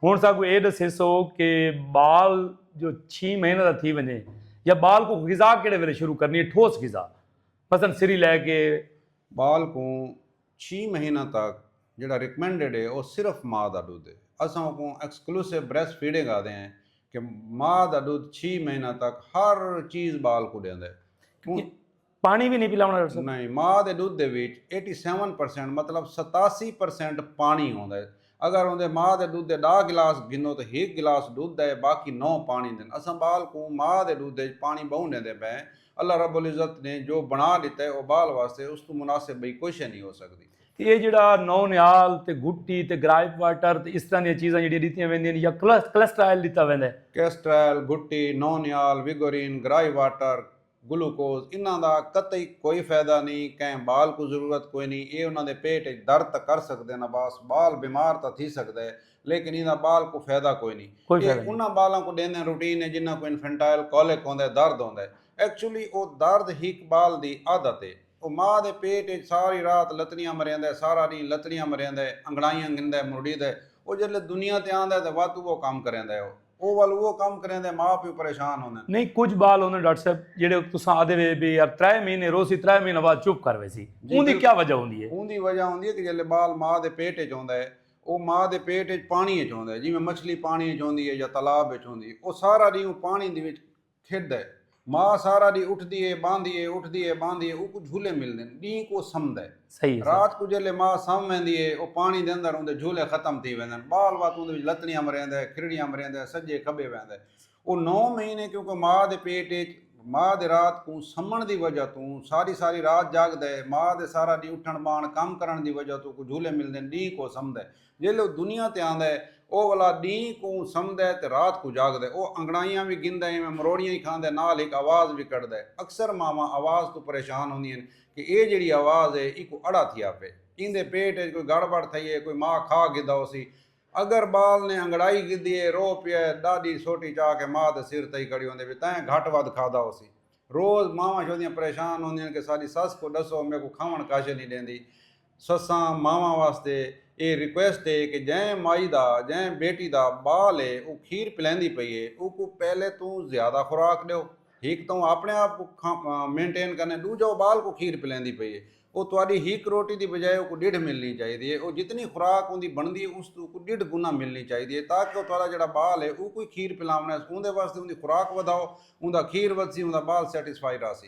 ہݨ ساکوں اے ݙسیسو کہ ٻال جو چھی مہینے دا تھی ونڄے یا ٻال کوں غذا کیڑھے ویلے شروع کرݨی اے ٹھوس غذا مثلا سری لے کے۔ ٻال کوں چھی مہیناں تک جیڑھا ریکمینڈڈ اے او صرف ماء دا ݙدھ اے۔ اساں اوکوں ایکسکلوسیو بریسٹ فیڈنگ آہدے ہیں کہ ماء دا ݙدھ چھی مہیناں تک ہر چیز ٻال کوں ݙیندے کیوں پاݨی وی نئیں پلاوݨا ݙسو۔ نئیں، ماء دے ݙدھ دے وچ ایٹی سیون پرسنٹ مطلب ستاسی پرسنٹ پاݨی ہوندا ہے۔ اگر اوندے ماء دے ݙدھ دے ݙاہ گلاس گھنو تاں ہک گلاس ݙدھ دا ہے باقی نو پاݨی دے ہن۔ اساں ٻال کوں ماء دے ݙدھ اچ پاݨی ٻہوں ݙیندے پئے ہیں۔ اللہ رب العزت نے جو بݨا ݙتا ہے او ٻال واسطے اس توں مناسب ٻئی کوئی شے نئیں ہو سڳدی۔ تے ایہ جیڑھا نو نہال تے گھٹی تے گرائپ واٹر تے اس طرح دیاں چیزاں جیڑھیاں ݙتیاں ویندیاں ہن یا کلسٹرائل ݙتا ویندا ہے۔ کلسٹرائل، گھٹی، نو نہال، ویگورین، گرائی واٹر، گلوکوز انہاں دا قطعی کوئی فیدہ نی کہیں بال کوں ضرورت کوئی نی اے انہاں دے پیٹ اچ درد تاں کر سکدن عباس بال بیمار تاں تھی سکدا اے لیکن ایندا بال کوں فیدہ کوئی نی اے انہاں بالاں کوں ڈیندن روٹین اچ جنہاں کوں انفنٹائل کولک ہوندا اے درد ہوندا اے ایکچولی او درد ہک بال دی عادت اے او ماء دے پیٹ اچ ساری رات لتڑیاں مریندا اے سارا ڈینہہ لتڑیاں مریندا اے انگڑائیاں گھندا اے مرڑیدا اے او جسلے دنیا تے آندا اے تاں واتو بہو کم کریندا اے او او ول اوہو کم کریندے ماء پیو پریشان ہوندن۔ نہیں کجھ بال ہوندن ڈاکٹر صاحب جیڑھے تساں آدھے وے بے یار ترے مہینے روسی ترے مہینے بعد چپ کر ویسی اوندی کیا وجہ ہوندی ہے؟ اوندی وجہ ہوندی ہے کہ جیلے بال ماء دے پیٹ اچ ہوندا ہے او ماء دے پیٹ اچ پانی اچ ہوندا ہے جیویں مچھلی پانی اچ ہوندی ہے یا تالاب اچ ہوندی ہے او سارا ڈینہہ او پانی دی وچ کھیڈدا ہے۔ ماء سارا ڈینہہ اٹھدی ہے باندھی ہے اٹھدی ہے باندھی ہے اوکوں جھولے ملدن ڈینہہ کوں او سمدا ہے۔ صحیح ہے صحیح۔ رات کوں جیلے ماء سم ویندی ہے او پانی دے اندر اوندے جھولے ختم تھی ویندن بال وت اوندے وچ لتڑیاں مریندا ہے کھرڑیاں مریندا ہے سجے کھبے ویندا ہے او نو مہینے کیونکہ ماء دے پیٹ اچ ماء دے رات کوں سمݨ دی وجہ توں ساری ساری رات جاگدا ہے ماء دے سارا ڈینہہ اٹھݨ باہݨ کم کرݨ دی وجہ توں اوکوں جھولے ملدن ڈینہہ کوں او سمدا ہے۔ جیلھے او دنیا تے آندا ہے او ولا ڈینہہ کوں سمدا ہے تے رات کوں جاگدا ہے۔ او انگڑائیاں وی گھندا ہے ایویں مروڑیاں ہی کھاندا ہے نال ہک آواز وی کڈھدا ہے۔ اکثر ماواں آواز توں پریشان ہوندیاں ہن کہ اے جیڑھی آواز ہے ایکوں اڑا تھیا پئے۔ ایندے پیٹ اچ کوئی گڑ بڑ تھئی ہے کوئی ماء کھا گھدا ہوسی۔ اگر بال نے انگڑائی گھدی ہے رو پیا ہے ڈاڈی سوٹی چا کے ماء دے سر تئی کھڑی ہوندی پئی تاں گھٹ ودھ کھادا ہوسی۔ روز ماواں شودیاں پریشان ہوندیاں ہن کہ ساڈی سس کوں ڈسو میکوں کھاون کاش نی ڈیندی۔ سساں ماواں واسطے اے ریکویسٹ اے کہ جئیں مائی دا جئیں بیٹی دا ٻال اے او کھیر پلیندی پئی اے اوکوں پہلے توں زیادہ خوراک ݙیو ہک تاں او آپݨے آپ کوں کھا مینٹین کرنے ݙوجھا او ٻال کوں کھیر پلیندی پئی اے او تہاݙی ہک روٹی دی بجائے اوکوں ݙیڈھ ملݨی چاہیدی اے او جتنی خوراک اوندی بݨدی اے اوس توں اوکوں ݙیڈھ گنا ملݨی چاہیدی اے تاکہ او تہاݙا جیڑھا ٻال اے اوکوں ای کھیر پلاوݨا اے اوندے واسطے اوندی خوراک ودھاؤ اوندا کھیر ودھسی اوندا ٻال سیٹسفائیڈ آسی